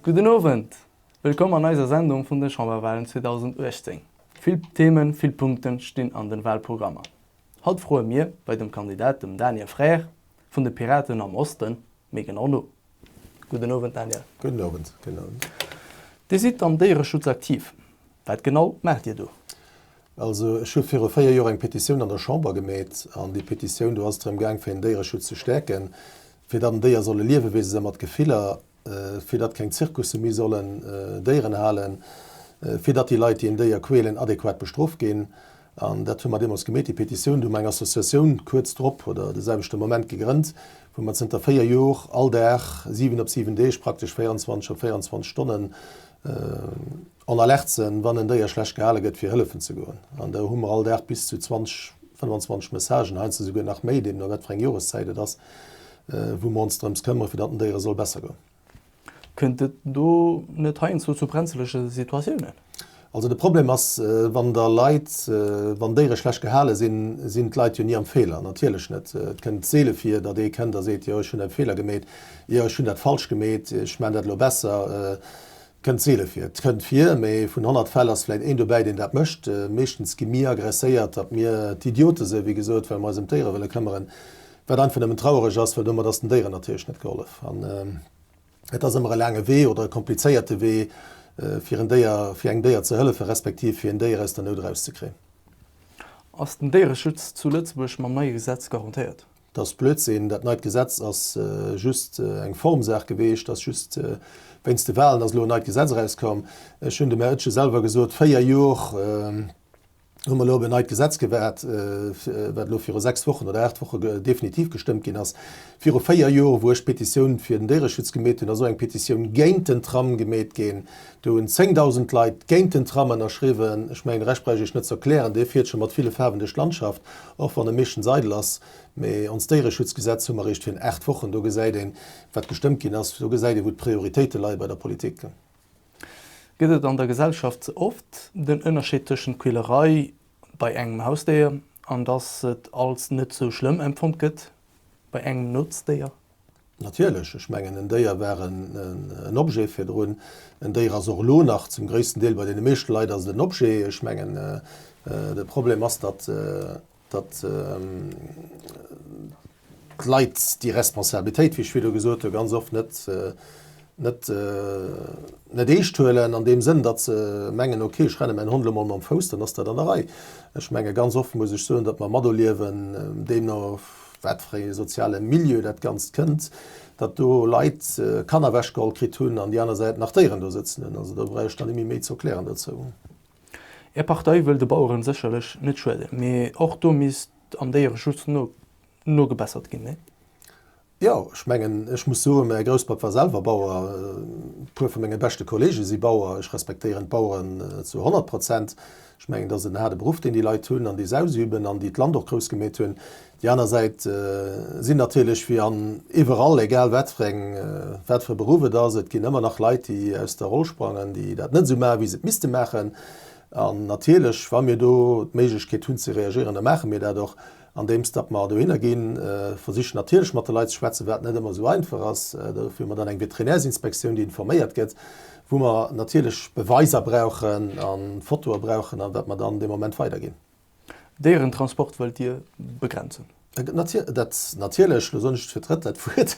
Gudden Owend! Wëllkomm an eiser Sendung vun den Chamberwahlen 2018. Vill Themen, vill Punkten stinn an den Wahlprogrammer. Haut froen mir bei dem Kandidat, dem Daniel Frères vun de Piraten am Osten, méi genau no. Gudden Owend Daniel. Gudden Owend. Gudden Owend. Dir sidd am Déiereschutz aktiv. Wat genau maacht Dir do? Also ech hu viru véier Joer eng Petitioun an der Chamber gemeet. An déi Petitioun, do ass et drëm gaang fir den Déiereschutz ze stäerken, fir datt en Déier soll e Liewewese sinn mat Gefiller, fir datt keng Zirkusse méi sollen Déieren halen, fir datt déi Leit, déi en Déier quälen, adequat bestrooft ginn. An dat hu mer deemools gemeet, déi Petitioun. Do hu mer eng Associatioun kuerz drop oder de selwechte Moment gegrënnt, wou mer zënter véier Jor all Dag, siwen op siwen Deeg, praktesch 24 op 24 Stonnen en alerte sinn, wann en Déier schlecht gehale gëtt, fir hëllefen ze goen. An do hu mer all Dag bis zu 20, 25 Messagen, heiansdo souguer nach méi, deemno wat fir eng Joreszäit et ass, wou mer ons drëms këmmere fir datt den Déiere soll besser goen. Kënnt et do net heiansdo zu brenzlege Situatiounen? Also de Problem ass, wann der Leit, wann Déiere schlecht gehale sinn, sinn d'Leit jo ni am Feeler, natierlech net. Et kënnt seele vir, datt ee kënnt a seet, jo ech hunn e Feeler gemeet, jo ech hunn dat falsch gemeet, ech maan dat elo besser. Kënnt seele vir. Et kënnt vir, mee vun 100 Fäll ass vläit een dobäi, deen dat mécht. Meeschtens gi mir agresséiert, datt mir d'Idiote sinn, wéi gesot, well mer eis ëm d'Déiere wëlle këmmeren. Wat einfach nëmmen traureg ass, well domat ass den Déieren natierlech net gehollef. An et ass ëmmer e laange Wee oder e komplizéierte Wee, fir en Déier, fir engem Déier ze hëllefen, respektiv fir een Déier aus der Nout erauszekréien. Ass den Déiereschutz zu Lëtzebuerg mam neie Gesetz garantéiert? Dat ass Blödsinn. Dat neit Gesetz ass just eng Formsaach geweecht. Ass just wéinst de Wahlen ass elo en neit Gesetz erauskomm. Ech hunn dem Här Oetsch selwer gesot, véier Jor hu mer elo op en neit Gesetz gewaart, wat elo viru sechs Wochen oder aacht Woche definitiv gestëmmt ginn ass. Viru véier Jor, wou ech d'Petitioun fir den Déiereschutz gemeet hunn, ass och eng Petitioun géint den Tram gemeet ginn. Do hunn 10.000 Leit géint den Tram ënnerschriwwen. Ech mengen, de Rescht brauch ech Iech net ze erklären. Dee fiert scho mat ville Faarwen duerch d'Landschaft, och wann e meeschtens eidel ass. Mee ons Déiereschutzgesetz hu mer eréischt virun aacht Wochen. Do gesäit een, wat gestëmmt ginn ass. Do gesäit ee, wou d'Prioritéite leie bei der Politik. Gëtt et an der Gesellschaft ze oft den Ënnerscheed tëschent Quälerei bei engem Hausdéier an dass et als net esou schlëmm empfonnt gëtt bei engem Notzdéier? Natierlech, ech mengen en Déier war en Objet virdrun, en Déier ass och elo nach zum gréissten Deel, bei deene meeschte Leit ass et en Objet. Ech mengen de Problem ass, datt d'Leit déi Responsabilitéit, wéi ech virdru gesot hu, ganz oft net net eescht huelen, an deem Sënn, datt se mengen, ok, ech renne mäin Hond elo mol mam Fouss, dann ass dat an der Rei. Ech menge ganz oft muss ech soen, datt mer materliewen, déi no wat fir ee soziale Milieu dat Ganzt kënnt, datt do Leit Kanner ewechgeholl kritt hunn an déi aner Säit nach Déieren do sëtzen hunn. Also do brauch ech dann net méi méi ze erklären dozou. Är Partei wëll de Baueren sécherlech net schueden, mee och do misst am Déiereschutz nogebessert ginn, nee? Jo, ech mengen, ech muss soen, mäi Grousspapp war selwer Bauer, e puer vu menge beschte Kollege si Bauer. Ech respektéieren d'Baueren zu honnert Prozent. Ech mengen, et ass en haarde Beruff, deen déi Leit hunn an déi se ausüben an déi d'Land och grouss gemeet hunn. Déi aner Säit sinn natierlech, wéi an iwwerall, egal wat fir eng, wat fir e Beruff et ass, et ginn ëmmer nach Leit, déi aus der Roll sprangen, déi dat net esou maachen, wéi se et misste maachen. An natierlech, wa mir do d'Méiglechkeet hunn ze reagieren, da maache mir dat och. Andeems datt mer dohinner ginn, versiche natierlech mat de Leit ze schwätzen, wat net ëmmer esou einfach ass. Dofir hu mer dann eng Veterinärsinspektioun, déi informéiert gëtt, wou mer natierlech Beweiser brauchen a Fotoe brauchen a wat mer dann dee Moment weiderginn. Déierentransport wëllt Dir begrenzen? Dat natierlech, elo soen ech et fir d'drëtt Leit Wuert,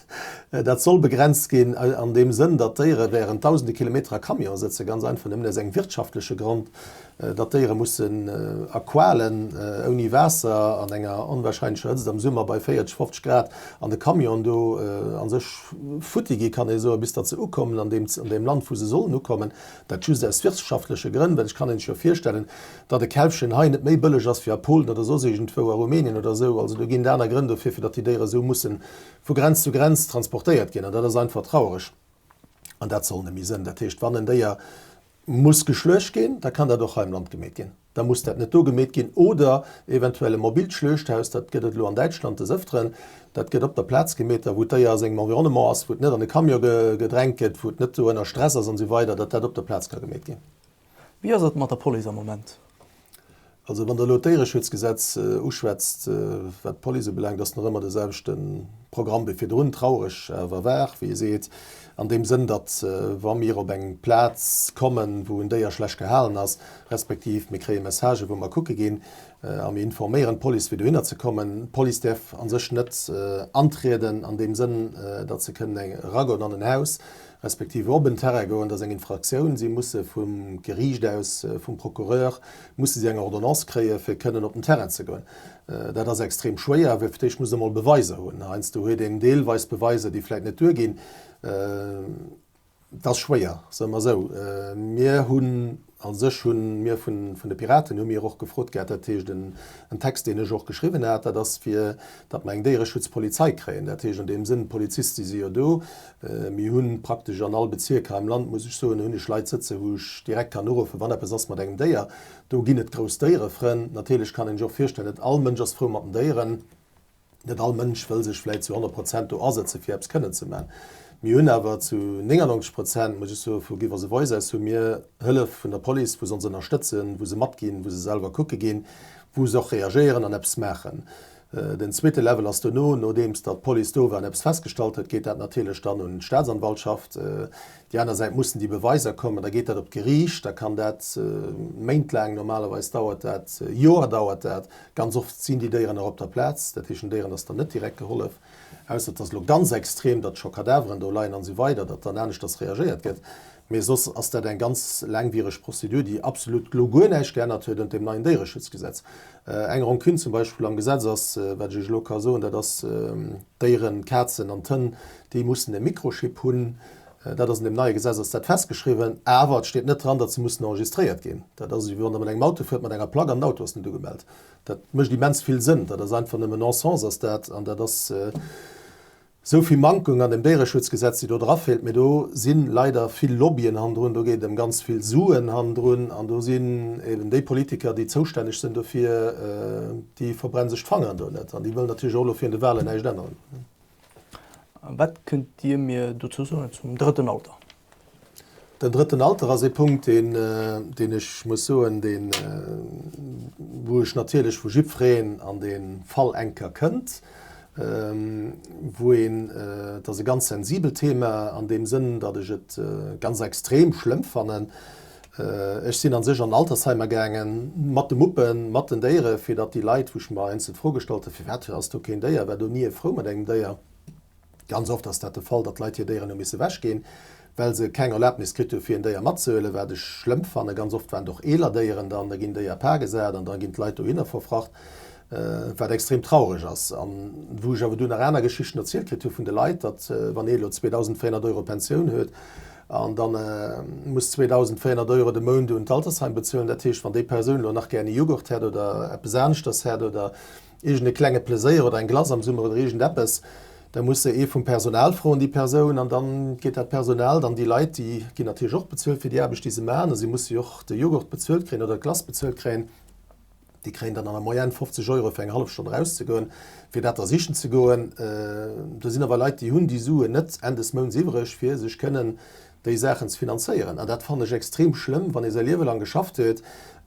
dat soll begrenzt ginn an deem Sënn, datt d'Déiere während dausende Kilometer a Camion sëtzen, ganz einfach, nämlech aus engem wirtschaftleche Grond, Datt d'Déiere mussen a Qualen, ouni Waasser, an enger onwahrscheinlecher Hëtzt am Summer bei 40, 50 Grad an de Camionen do a sech futti gi kann ee soen, bis datt se ukommen an deem Land wou se sollen ukommen, dat just aus wirtschaftleche Grënn. Well ech kann een sech jo virstellen, datt e Kälbchen hei net méi bëlleg ass wéi a Polen oder soss iergendwou a Rumänien oder esou. Also do ginn et aner Grënn dofir, fir datt déi Déiere esou musse vu Grenz zu Grenz transportéiert ginn. An dat ass einfach traureg an dat soll nemmi sënn. Dat heescht, wann en Déier muss geschluecht ginn, da kann dat och hei am Land gemeet ginn. Da muss dat net do gemeet ginn oder eventuell e mobilt Schluechthaus, dat gëtt et elo an Däitschland des Ëfteren, dat gëtt op der Plaz gemeet, da wou d'Déier a sengem Environnement ass, wou et net an e Camion gedrängt gëtt, wou et net do ënner Stress ass an esou weider, datt dat op der Plaz ka gemeet ginn. Wéi ass et mat der Police am Moment? Also, wann Der elo d'Déiereschutzgesetz uschwätzt, wat d'Police ubelaangt, ass nach ëmmer de selwechte Programm wéi virdrun, traureg awer wahr, wéi ee seet, an deem Sënn, datt wa mir op eng Plaz kommen, wou en Déier schlecht gehalen ass, respektiv mir kréie Messagen, wou mer kucke ginn a mir informéieren d'Police, fir dohinner ze kommen, d'Police däerf a sech net antrieden an deem Sënn, datt se kënnen eragoen an en Haus, respektiv op en Terrain goen, dat ass eng Infraktioun, si musse vum Geriicht aus, vum Procureur, musse si eng Ordonnance kréien, fir kënnen op den Terrain ze goen. Dat ass extrem schwéier, well fir d'éischt muss e mol Beweiser hunn. Heiansdo huet een deelweis Beweiser, déi vläicht net duerginn. Dat ass schwéier, soe mer esou. Mir hunn A sech hu mir vun de Piraten hu mir och gefrot gehat, dat heescht en Text, deen ech och geschriwwen hat, dat ass fir, datt mer eng Déiereschutzpolizei kréien. Dat heescht an deem Sënn, d'Poliziste si jo do, mir hu praktesch an all Bezierk hei am Land, muss ech soen, hunn ech Leit sëtzen, wou ech direkt kann uruffen, wann eppes ass mat engem Déier. Do ginn et grouss Déierefrënn. Natierlech kann een sech och virstellen, net all Mënsch ass frou mat den Déieren. Net all Mënsch wëll sech vläit zu 100 Prozent do asëtze fir eppes kënnen ze man. Mir hunn awer zu 99 Prozent, muss ech soen, vu Give Us A Voice aus hu mir Hëllef vun der Police, wou se ons ënnerstëtzen, wou se matginn, wou se selwer kucke ginn, wou se och reagéieren an eppes maachen. Den zweete Level ass dono, nodeems datt d'Police do war an eppes festgestallt huet, geet dat natierlech dann un d'Staatsanwaltschaft. Déi aner Säit mussen déi Beweiser kommen, da geet dat op d'Geriicht, da kann dat Méint laang, normalerweis dauert dat Joer dauert dat. Ganz oft sinn déi Déieren nach op der Plaz, dat heescht den Déieren ass dann net direkt gehollef, ausser et ass elo ganz extrem, datt scho Kadaveren do leien an esou weider, datt dann aneschters reagéiert gëtt. Mee soss ass dat eng ganz laangwiereg Prozedur, déi absolut elo guer näischt geännert huet un dem neien Déiereschutzgesetz. Eng Rancune zum Beispill am Gesetz ass, wat ech Iech elo ka soen, dat ass d'Déieren, d'Kazen an d'Hënn, Déi mussen e Mikrochip hunn. Dat ass an deem neie Gesetz ass dat festgeschriwwen. Awer et steet net dran, datt se mussen enregistréiert ginn. Dat ass esou, wéi wann Der mat engem Auto fuert mat enger Plack an den Auto ass net ugemellt. Dat mécht immens vill Sënn. Dat ass einfach nëmme Non-sens ass dat. An dat ass esou vill Mankung an deem Déiereschutzgesetz, déi do dra feelt. Mee do si leider vill Lobbyen hannendrun. Do geet et ëm ganz vill Suen hannendrun. An do sinn eben déi Politiker, déi zoustänneg sinn dofir, déi verbrennen sech d'Fangeren do net. An déi wëllen natierlech och elo virun de Wahlen näischt änneren. Wat kënnt Dir mir dozou soen zum drëtten Alter? Den drëtten Alter ass ee Punkt, deen, deen ech muss soen, deen, wou ech natierlech vu jiddwereen an dee Fall eng Kéier kënnt, wou een, et ass e ganz sensibelt Thema an deem Sënn, datt ech et ganz extrem schlëmm fannen, Ech sinn an sech an Altersheimer gaangen, mat de Muppen, mat den Déieren, fir datt déi Leit, wou ech mer einzel d'Fro gestallt hunn, firwat ass do keen Déier, war do ni e frou mat engem Déier. Ganz oft ass dat de Fall, datt d'Leit hir Déieren hu misse wechginn, well se keng Erlaabnis kritt hu fir en Déier matzehuelen, wat ech schlëmm fannen. Ganz oft waren et och eeler Déieren dann, da ginn Déier par gesat an da ginn d'Leit dohinner verfracht, wat extrem traureg ass. An wou ech awer dunn nach aner Geschichten erzielt kritt hu vun de Leit, datt wann een elo 2.400 Euro Pensioun huet, An da muss 2.400 Euro de Mount un d'Altersheim bezuelen. Dat heescht, wann déi Persoun elo nach gären e Jughurt hätt oder eppes aneschters hätt oder iergend e klenge Pleséier oder eng Glace am Summer oder iergend eppes, da muss se ee vum Personal froen, déi Persoun. An da geet dat Personal, dann déi Leit, déi ginn natierlech och bezuelt fir déi Aarbecht, déi se maachen, a si musse jo och de Jughurt bezuelt kréien oder d'Glace bezuelt kréien. Déi kréien dann an der Moyenne 50 Euro fir eng hallef Stonn erauszegoen, fir dat da sichen ze goen. Do sinn awer Leit, déi hunn déi Suen net Enn des Mounts iwwereg, fir sech kënnen déi Saachen ze finanzéieren. An dat fannen ech extrem schlëmm, wann ee säi Liewe lang geschafft huet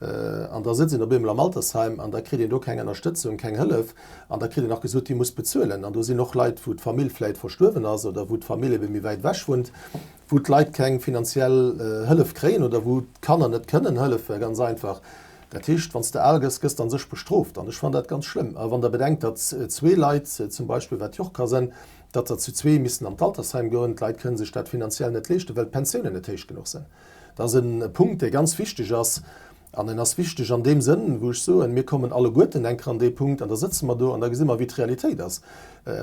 an da sëtzt een op eemol am Altersheim an da kritt een do keng Ënnerstëtzung, keng Hëllef an da kritt een nach gesot, Dir musst bezuelen. An do sinn och Leit, wou d'Famill vläicht verstuerwen ass oder wou d'Famill ebe méi wäit ewech wunnt, wou d'Leit keng finanziell Hëllef kréien oder wou d'Kanner net kënnen hëllefen, ganz einfach. Dat heescht, wann s de al gëss, gëss de a sech bestrooft. An ech fannen dat ganz schlëmm. A wann der bedenkt, datt zwee Leit zum Beispill, wat jo och ka sënn, datt der zu zwee missten an d'Altersheim goen, d'Leit kënne sech dat finanziell net leeschten, well d'Pensiounen net héich genuch sinn. Dat ass e Punkt, dee ganz wichteg ass. An en ass wichteg an deem Sënn, wou ech soen, mir kommen alleguerten eng Kéier an dee Punkt an da sëtze mer do an da gesi mer, wéi d'Realitéit ass.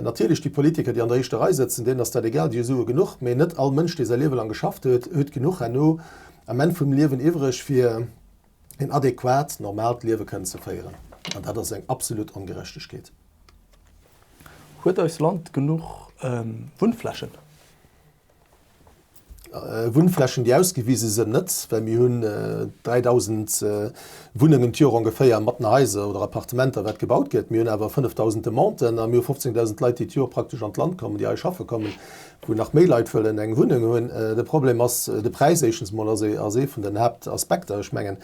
Natierlech, déi Politiker, déi an der éischter Rei sëtzen, deenen ass dat egal, déi hu Sue genuch. Mee net all Mënsch, dee säi Liewe laang geschafft huet, huet genuch herno am Enn vum Liewen iwwereg, fir, een adequat, normaalt Liewe kënnen ze féieren. An dat ass eng absolut Ongerechtegkeet. Huet eist Land genuch Wunnflächen? Wunnflächen, déi ausgewise sinn, net, well mir hunn 3.000 Wunnengen d'Joer ongeféier, mat den Haiser oder Appartementer, wat gebaut gëtt. Mir hunn awer 5.000 Demanden a mir hu 15.000 Leit, déi d'Joer praktesch an d'Land kommen, déi hei schaffe kommen. wou nach méi Leit wëllen eng Wunneng hunn. De Problem ass de Präis, éischtens emol ass ass ee vun den Haaptaspekter. Ech mengen,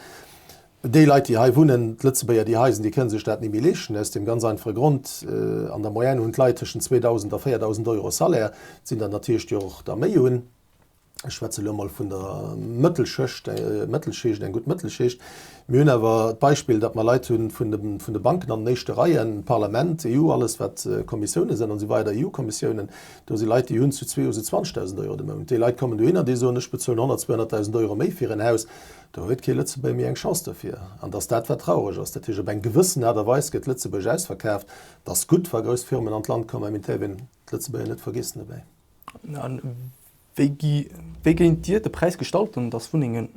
déi Leit, déi hei wunnen, d'Lëtzebuerger, déi hei sinn, déi kënne sech dat ni méi leeschten, aus deem ganz einfache Grond, an der Moyenne hunn d'Leit tëschent 2.000 a 4.000 Euro Salaire, sinn der natierlech, déi och der méi hunn, ech schwätze elo emol vun der Mëttelschëcht, Mëttelschicht, eng gutt Mëttelschicht. Mir hunn awer d'Beispill, datt mer Leit hu vun de vun de Banken an den éischte Reien, Parlament, EU, alles wat Kommissioune sënn an esou weider, EU-Kommissiounen, Do si Leit, déi hunn zu zwee Huse 20.000 Euro de Mount. Déi Leit kommen dohinner, déi soen, ech bezuelen 100, 200.000 Euro méi fir en Haus. Do huet kee Lëtzebuerger méi eng Chance dofir. An dass dat, wat traureg ass. Dat heescht, op eng gewëssen Aart a Weis gëtt Lëtzebuerg ausverkaaft. Et ass gutt, wa grouss Firmen an d'Land kommen, mä mir däerfen d'Lëtzebuerger net vergiessen dobäi. A wéi géint Dir de Präis gestalten, dass Wunnengen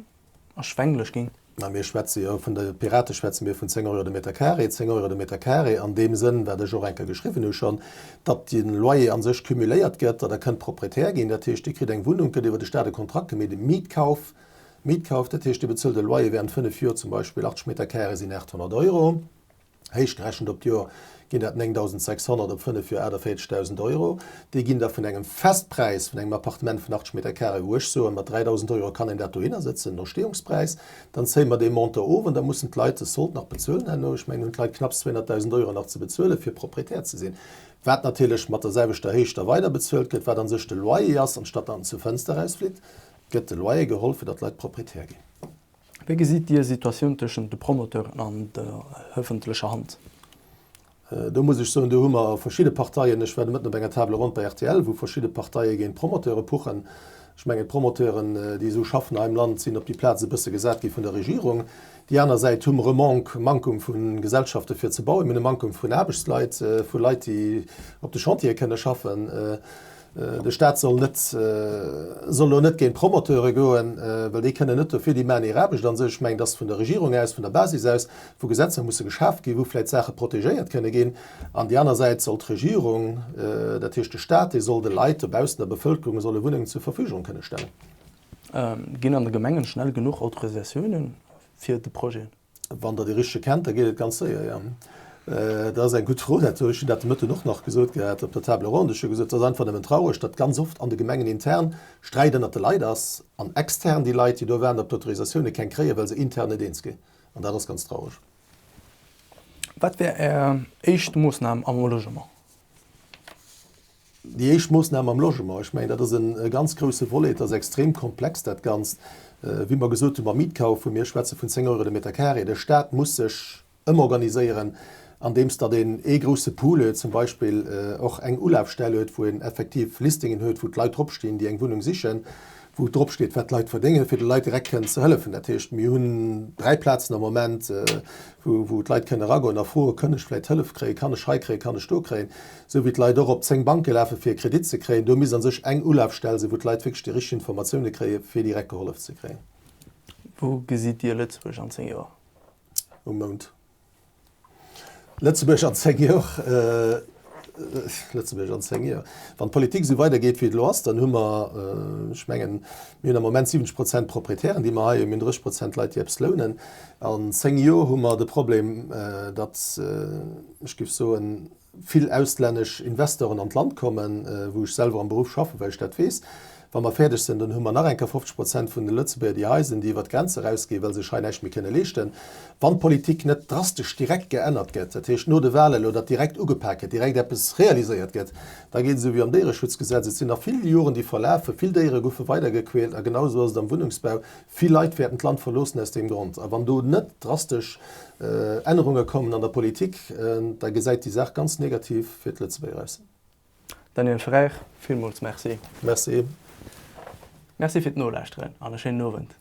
erschwänglech ginn. Mä mir schwätze jo, vun de Pirate schwätze mir vun 10 Euro de Meter carré, 10 Euro de Meter carré an deem Sënn, wat ech och eng Kéier geschriwwen hu schonn, datt de Loyer a sech cumuléiert gëtt, datt Der kënnt Proprietär ginn. Dat heescht, Dir kritt eng Wunnung, gëtt iwwer de Stat e Kontrakt gemaach, e Mietkauf, Mietkauf, dat heescht, Dir bezuelt e Loyer während fënnef Joer, zum Beispill 80 Meter carré sinn 800 Euro, Héichgerechent op d'Joer ginn dat 9.600, op 5 Joer 48.000 Euro. Déi ginn da vun engem Festpräis vun engem Appartement vun 80 Meter Carré, wou ech soen, mat 3.000 Euro kann een dat dohinner sëtzen, den Entstehungspräis. Dann zéie mer dee Montant of an da mussen d'Leit de Sold nach bezuelen herno. Ech mengen, hunn d'Leit knapps 200.000 Euro nach ze bezuelen, fir Proprietär ze sinn, wat natierlech mat der selwechter Héicht da weider bezuelt gëtt, wat a sech de Loyer ass. Anstatt datt en zur Fënster erausflitt, gëtt de Loyer geholl, fir datt d'Leit Proprietär ginn. Wéi gesitt Dir Situatioun tëschent de Promoteuren an der ëffentlecher Hand? Do muss ech soen, do hu mer verschidde Parteien. Ech war de Mëtten op enger Table ronde bei rtl, wou verschidde Parteie géint d'Promoteure puchen. Ech mengen, d'Promoteuren, déi esou schaffen hei am Land, sinn op déi Plaz e bësse gesat gi vun der Regierung. Déi aner Säit hu mer e Manque, Mankung vu Gesellschafte fir ze bauen. Mir hunn e Mankung vun Aarbechtsleit, vu Leit, déi op de Chantiere kënne schaffen. De Staat soll net, soll elo net géint d'Promoteure goen, well déi kënnen net dofir, déi maachen hir Aarbecht an sech. Ech mengen, dass vun der Regierung aus, vun der Basis aus, wou Gesetzer musse geschaf ginn, wou vläicht Saache protegéiert kënne ginn. An déi aner Säit soll d'Regierung, dat heescht de Staat, dee soll de Leit dobaussen, der Bevëlkerung, e soll e Wunnengen zur Verfügung kënne stellen. Ginn an de Gemengen schnell genuch Autorisatiounen fir de Projet? Wann der déi richteg kennt, da geet et ganz séier, jo. Dat ass eng gutt Fro. Dat hu ech Dir dat de Mëtten och nach gesot gehat op der Table ronde. Ech hu gesot, et ass einfach nëmmen traureg, datt ganz oft an de Gemengen intern Sträit ënnert de Leit ass an extern déi Leit, déi do waarden op d'Autorisatioune, keng kréien, well se intern net eens ginn. An dat ass ganz traureg. Wat wär Är éischt Moossnam am Logement? Déi éischt Moossnam am Logement, ech mengen, dat ass e ganz grouse Volet. Et ass extrem komplex, dat Ganzt. Wéi mer gesot hunn beim Mietkauf, hu mir, ech schwätze vun 10 Euro de Meter carré. De Staat muss sech ëmorganiséieren, andeems datt een ee grouse Pool huet, zum Beispill och eng Ulafstell huet, wou een effektiv Listingen huet, wou d'Leit drop stinn, déi eng Wunnung sichen, wou drop steet, wat d'Leit verdéngen, fir de Leit direkt kënnen ze hëllefen. Dat heescht, mir hunn dräi Plazen am Moment, wou d'Leit kënnen eragoen a froe, Kann ech vläicht Hëllef kréien? Kann ech hei kréien? Kann ech do kréien? Sou wéi d'Leit och op 10 Banke lafe fir e Kredit ze kréien, do misst a sech eng Ulafstell sinn, wou d'Leit wierklech déi richteg Informatioune kréie fir direkt gehollef ze kréien. Wou gesitt Dir Lëtzebuerg an 10 Joer? Um Mound. Lëtzebuerg an 10 Joer? Lëtzebuerg an 10 Joer, wann d'Politik esou weider geet wéi et elo ass, dann hu mer, ech mengen, mir hunn am Moment 70 Prozent Proprietären déi mer hei hunn, mir hunn 30 Prozent Leit déi eppes lounen. An 10 Joer hu mer de Problem, datt, ech géif soen, vill auslännesch Investoren an d'Land kommen, wou ech selwer am Beruff schaffen, well ech dat weess, wa mer fäerdeg sinn, dann hu mer nach eng Kéier 50 Prozent vun de Lëtzebuerger, déi hei sinn, déi iwwert d'Grenz erausginn, well se sech hei näischt méi kënne leeschten, wann d'Politik net drastesch direkt geännert gëtt, dat heescht no de Wahlen, elo dat direkt ugepak gëtt, direkt eppes realiséiert gëtt, da geet et esou wéi am Déiereschutzgesetz, et sinn nach vill Joren, déi verlafen, vill Déiere goufe weidergequält a genau esou ass et am Wunnungsbau, Vill Leit wäerten d'Land verloossen aus deem Grond. A wann do net drastesch Ännerunge kommen an der Politik, da gesäit déi Saach ganz negativ fir d'Lëtzebuerger aus. Daniel Frères, villmools Merci. Merci. Merci fir d'Nolauschteren an e schéinen Owend.